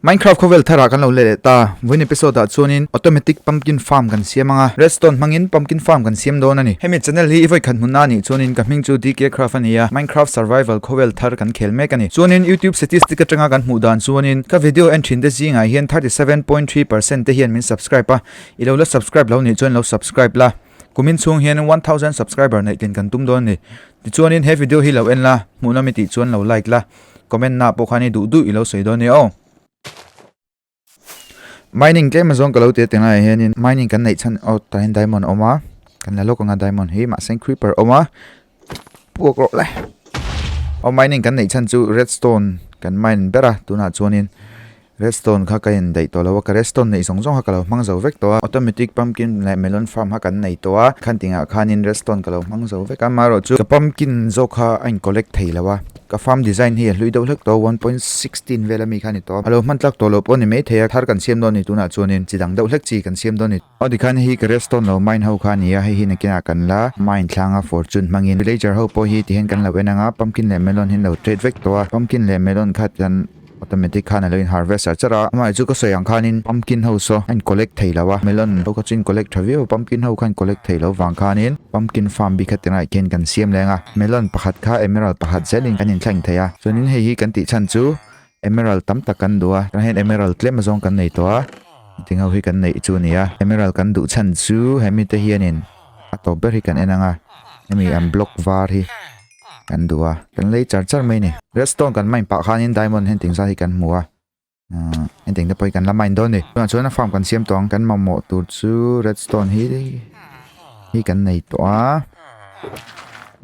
Minecraft khawvel tharah kan lo la leh ta. Vawin episode ah chuanin automatic pumpkin farm kan siam anga redstone hmangin pumpkin farm kan siam dawn a ni. Hemi channel hi i vawikhat hmun a nih chuanin ka hming chu DK Craft a ni a, Minecraft survival khawvel thar kan khel mek a ni. Chuanin YouTube statistic atanga kan hmuh dan chuanin ka video en thin te zingah hian thirty seven point three percent te hian min subscribe a, i lo la subscribe lo nih chuan i lo subscribe la. kumin chhung hian one thousand subscriber neih tlin kan tum dawn ani tichuan in he video hi lo en la hmuh na mi tih chuan lo like la comment na pawh khan i duh duh i lo sawi dawn ni aw mining tlem azawng ka lo ti ateng lai hian in mining kan neih chhan aw tahin diamond awm a kan la lawk anga diamond hi mah sen creeper awm a buak rawh lai aw mining kan nei chhan chu redstone kan mine ber a tunah chuanin redstone kha ka in daih tawh lova ka redstone neih zawng zawng kha ka lo hmang zo vek tawh a automatic pumpkin leh melon farm kha kan nei tawh a khan tingah khanin redstone ka lo hmang zo vek a amaherawh chu ka pumpkin zawk kha a in collect thei lo a ka farm design hi a hlui deuh hlek tawh a one point sixteen vela mi kha a ni tawh a a lo hman tlak tawh loh pawh a ni maithei a thar kan siam dawn a ni tunah chuanin chi dang deuh hlek chi kan siam dawn a ni. Aw tikhan hei hi ka redstone lo mine ho kha a ni a, hei hi nakinah kan la mine thlang a fortune hmangin. Villager ho pawh hi tihian kan lo en ang a, pumpkin leh melon hi an lo trade vek tawh a, pumpkin leh melon kha chuan automatic khan a lo in harvest sak char a, amah chu ka sawi ang khanin pumpkin ho saw a in collect thei lo a, melon ho kha chu in collect tha viau a, pumpkin ho kha in collect thei lo vang khanin pumpkin farm bik a tinai khian kan siam leng a, melon pakhat kha emerald pakhat zel in kan in thleng thei a, chuanin hei hi kan tih chhan chu emerald tam tak kan duh a tah hian emerald tlem azawng kan nei tawh a meeting ho hi kan neih chu a ni a emerald kan duh chhan chu he mite hianin a tawp ber hi kan en ang a hemi an block var hi kan duh a kan lei char char mai a ni redstone kan mine pah khanin diamond hunting zat hi kan hmu a umm hunting te pawh hi kan la mine dawn a ni tunah chuan farm kan siam tawh ang kan mamawh tur chu redstone hi hi kan nei tawh a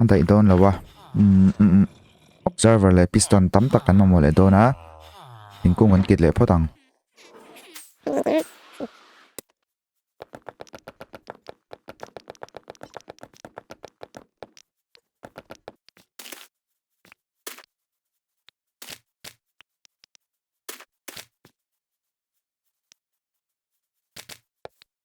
a daih dawn lo a umm umm umm. Observer leh piston tam tak kan mamawh leh dawn a, thingkung kan kit leh phawt ang.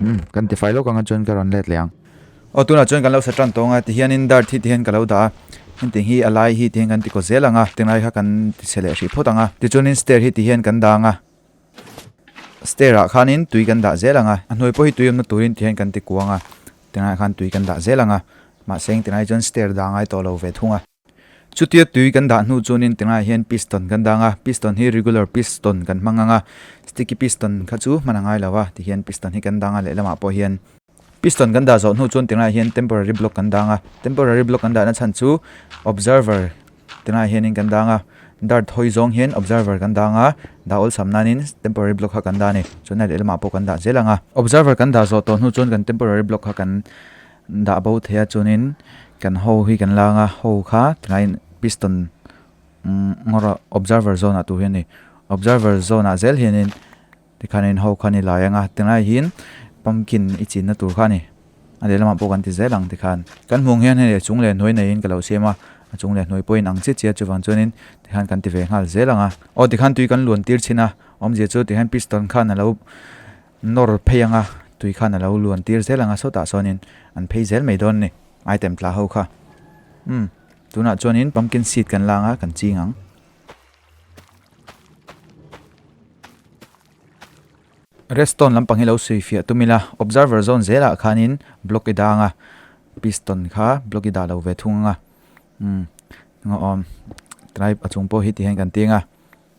Umm, kan ti fai lawk anga chuan ka rawn let leh ang. Aw, tunah chuan kan lo sa tan tawnga ti hianin Dart hi ti hian ka lo dah a, engtiang hi a lai hi ti hian kan ti ko zel ang a, ti ngai kha kan ti chhe leh hrih phawt ang a. Tichuanin stair hi ti hian kan dang a, stair-ah khanin tui kan dah zel ang a, a hnuai pawh hi tui awmna turin ti hian kan ti kuang a, ti ngai khan tui kan dah zel ang a, mahse engti ngai chuan stair dah ngai tawh lo ve thung a. Chutia tui kan dah hnu chuanin tingai hian piston kan dang a, piston hi regular piston kan hmang ang a, sticky piston kha chu hman a ngai lo a, tihian piston hi kan dang a lehlamah pawh hian. Piston kan dah zawh hnu chuan tingai hian temporary block kan dang a, temporary block kan dahna chhan chu observer tingai hianin kan dang a, dart hawi zawng hian observer kan dang a, dah awlsam nanin temporary block kha kan dah a ni, chuan a lehlamah pawh kan dah zel ang a. Observer kan dah zawh tawh hnu chuan kan temporary block kha kan Dah bo thei a chuanin kan ho hi kan lâng a, ho kha tilaiin piston ngawra observer zone-ah tu hi a ni. Observer zone-ah zel hianin tikhanin ho kha ni lai ang a, tilai hian pumpkin i chinna tur kha a ni. A lehlamah pawh kan ti zel ang tikhan. Kan hmuh ang hian hei chung leh hnuai neiin ka lo siam a, a chung leh hnuai pawhin ang chiah chiah chuvang chuanin tikhan kan ti ve nghal zel ang a. Aw tikhan tui kan luan tir chhin a, awmzia chu tikhan piston khan a lo. Nawr phei anga tui khan a lo luan tir zel anga sawtah sawnin an phei zel mai dawn ni. Item tla ho kha. Umm, tunah chuanin pumpkin seed kan la anga kan ching ang. Redstone lampang hi lo sui fiah tum ila, observer zone zelah khanin block i dah anga piston kha block i dah lo ve thung anga. Umm, ngaw awm. Try a chung pawh hi ti hian kan ti anga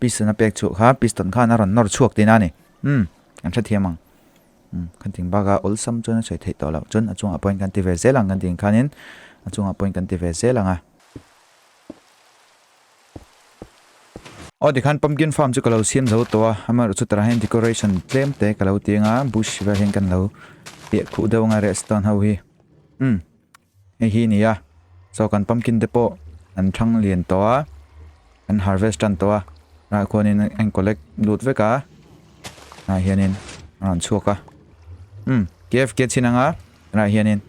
Piston a pek chhuah kha piston khan a rawn nawr chhuak tih na a ni. Umm, kan hre thiam ang. Umm, kan tih ang bak a, awlsam chuan a sawi theih tawh loh. Chuan a chungah pawhin kan ti ve zel ang kan tih ang khanin a chungah pawhin kan ti ve zel ang a. Aw tikhan pumpkin farm chu ka lo siam zo tawh a, amaherawhchu chutah hian decoration tlem te ka lo ti ang a, bush vel hian kan lo piah khuh deuh ang a, redstone ho hi. Umm, Hei hi nia, so kan pumpkin te pawh an thang lian tawh a, an harvest tan tawh a, hnah khuanin a incollect lut vek a, hnah hianin a rawn chhuak a. Hmm, KF ke chhin anga, tunah hianin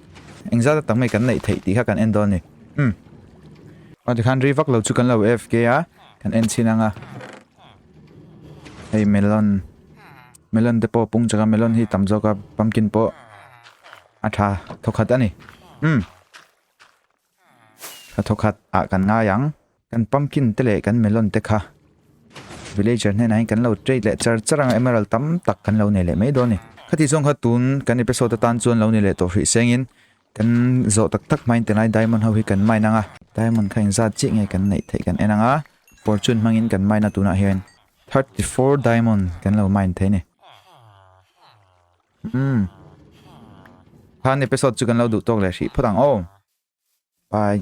engzat a tak mai kan neih theih tih kha kan en dawn ni. Hmm. Aw tikhan ri vak lo chu kan lo AFK a, kan en chhin anga. Hei melon, melon te pawh pung chak a, melon hi tam zawk a, pumpkin pawh. A tha thaw khat a ni. Umm. Tha thaw khat ah kan ngai ang. Kan pumpkin te leh kan melon te kha villager hnenah hian kan lo trade leh char char ang a emerald tam tak kan lo nei leh mai dawn a ni. Khati zawng kha tun kan episode atan chuan lo ni leh tawh hrih sengin kan zawh tak tak hmain te lai diamond ho hi kan mine ang a. Diamond kha engzat chiah nge kan neih theih kan en ang a. Fortune hmangin kan mine a tunah hian thirty four diamond kan lo mine thei a ni. Hmm. Khan episode chu kan lo duh tawk leh hrih phawt ang aw. Bye.